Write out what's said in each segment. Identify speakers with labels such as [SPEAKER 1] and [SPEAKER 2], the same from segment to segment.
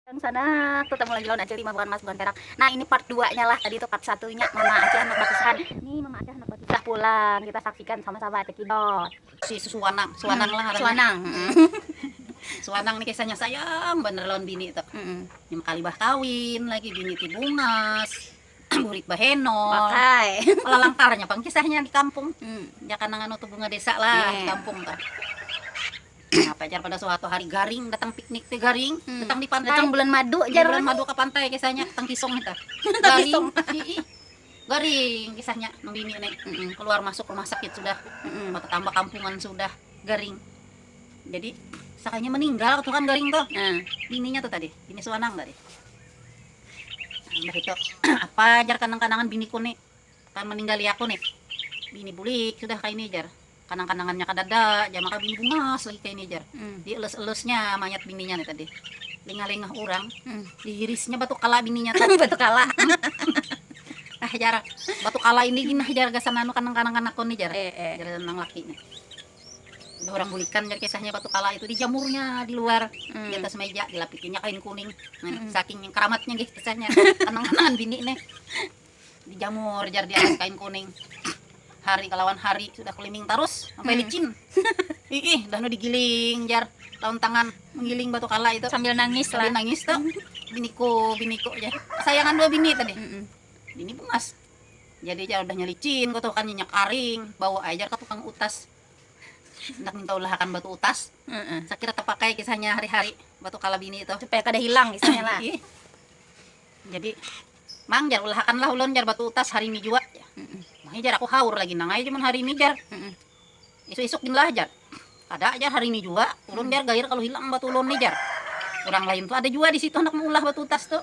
[SPEAKER 1] Yang sana ketemu lagi lawan acil lima bukan emas bukan perak nah ini part dua nya lah tadi itu part satu nya mama acil handak bakisah ini mama acil handak bakisah pulang kita saksikan sama sama cekidot si susuanang
[SPEAKER 2] suanang lah ngarannya suanang suanang nih kisahnya sayang bener lawan bini itu mm -mm. lima kali bah kawin lagi bini ti bungas Bulik bahenol. Pakai.
[SPEAKER 1] Lalangkarnya pang
[SPEAKER 2] kisahnya di kampung. Hmm. Ya kanangan nutu bunga desa lah yeah. di kampung kan. Apa jar pada suatu hari garing datang piknik teh garing hmm. datang di pantai. Datang bulan madu jar. Bulan
[SPEAKER 1] madu ke pantai
[SPEAKER 2] kisahnya tang kisong kita. Garing. garing kisahnya nembini nih. Mm -mm. Keluar masuk rumah sakit sudah. Mm -mm. tambah kampungan sudah garing. Jadi sakanya meninggal tuh kan garing tuh. Nah. Bininya tuh tadi. Bini suanang tadi. Mbah itu, apa jar kanang-kanangan biniku ni ka maninggali aku ni, bini bulik sudah kaini jar, kanang-kanangannya kadada jar, maka bini bungas lagi kaini jar, di elus-elusnya mayat bininya ni tadi, lingah-lingah urang, di hirisnya batu kala bininya tu, batu kala nah jar, batu kala ini gin nah jar gasan anu kanang-kanangan aku ni jar, jar nang laki ni. Urang bulikan jar kisahnya batu kala itu dijamurnya di luar di atas meja dilapitinya kain kuning saking karamatnya gih kisahnya kenang kenangan bini nih dijamur jar di atas kain kuning hari kalawan hari sudah keliming tarus sampai licin iih dah nu digiling jar lawan tangan menggiling batu kala itu sambil nangis lah nangis
[SPEAKER 1] tuh
[SPEAKER 2] biniku biniku jar kesayangan dua bini tadi bini bungas Jadi jar udahnya licin ko tuh kan nyenyak karing bawa ai jar ka tukang utas handak minta ulah akan batu utas sakira tapakai kisahnya hari hari batu kala bini tuh supaya kada hilang kisahnya
[SPEAKER 1] lah
[SPEAKER 2] jadi mang jar ulah akan lah ulun jar batu utas hari ini jua jar mahih jar aku haur lagi nang ai cuman hari ini jar isuk isuk gin lah jar kada jar hari ini jua ulun jar gair kalu hilang batu ulun ni jar urang lain tuh ada jua disitu handak maulah batu utas tuh.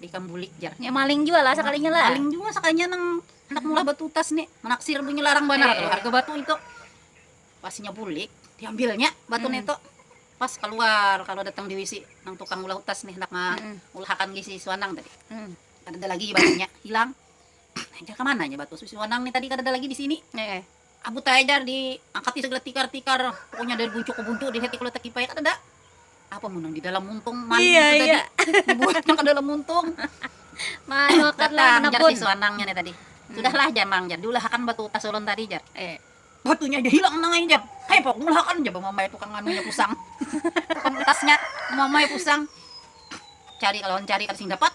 [SPEAKER 2] Ikam bulik jar. Nya maling jua lah sakalinya
[SPEAKER 1] lah. Maling jua sakalinya nang
[SPEAKER 2] handak maulah batu tas ni. Manaksir bunyi larang banar tu harga batu itu. Pas inya bulik, diambilnya batu nitu. Pas kaluar, kaluar datang di wc nang tukang ulah utas ni handak maulahakan di si Suanang tadi. Kadada lagi batunya, hilang. Jar kamana nya batu si Suanang ni tadi kadada lagi di sini. Abu taidar di angkati segala tikar tikar pokoknya dari buncu ke buncu di heti kula takipai kadada apa mun nang di dalam muntung maling iya, itu iya. tadi dibuatnya ke dalam muntung malu
[SPEAKER 1] kan lah jar si
[SPEAKER 2] suanangnya nih
[SPEAKER 1] tadi
[SPEAKER 2] hmm. sudahlah jar mang jar diulahakan batu tasulun tadi jar eh batunya dia hilang nang aja jar hei pok diulahakan jar mamai tukang anunya pusang tukang tasnya mamai pusang cari kalau cari kada sing dapat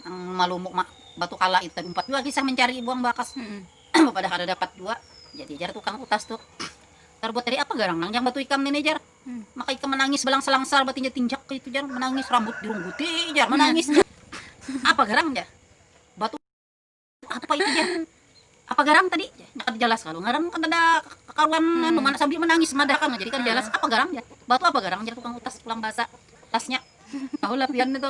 [SPEAKER 2] nang malumuk mak batu kala itu tadi empat juga kisah mencari buang bakas hmm. Bapadah kada dapat jua. Jadi jar tukang utas tu, Tarbuat dari apa garang nang jang batu ikam nini jar? Maka ikam manangis balangsalangsar batinjak-tinjak kaitu jar, manangis rambut dirungguti jar, manangis jar. Apa garang jar? Batu apa itu jar? Apa garang tadi jar? Nya kada jalas kalu ngaran kadada kakaruan anu mana sambil manangis madah kalo jadi kada jalas. Apa garang jar? Batu apa garang jar tukang utas pulang basa utasnya. Tahulah pian itu.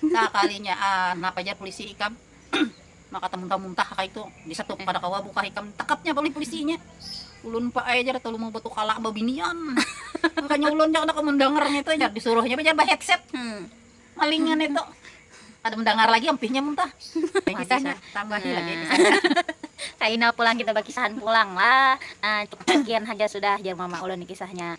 [SPEAKER 2] Sakalinya an napa jar pulisi ikam maka tamuntah muntah kaitu disetup kada kawa buka ikam takapnya oleh pulisinya ulun pa ai jar talu mubatu kala babinian makanya ulun ja kada kawa mandangar ngitu jar disuruhnya pa jar ba headset malingan itu kada mandangar lagi ampihnya muntah kisahnya tambahi lagi kisahnya. Kaina
[SPEAKER 1] pulang kita bakisahan pulang lah nah cukup sakian haja sudah jar mama ulun kisahnya.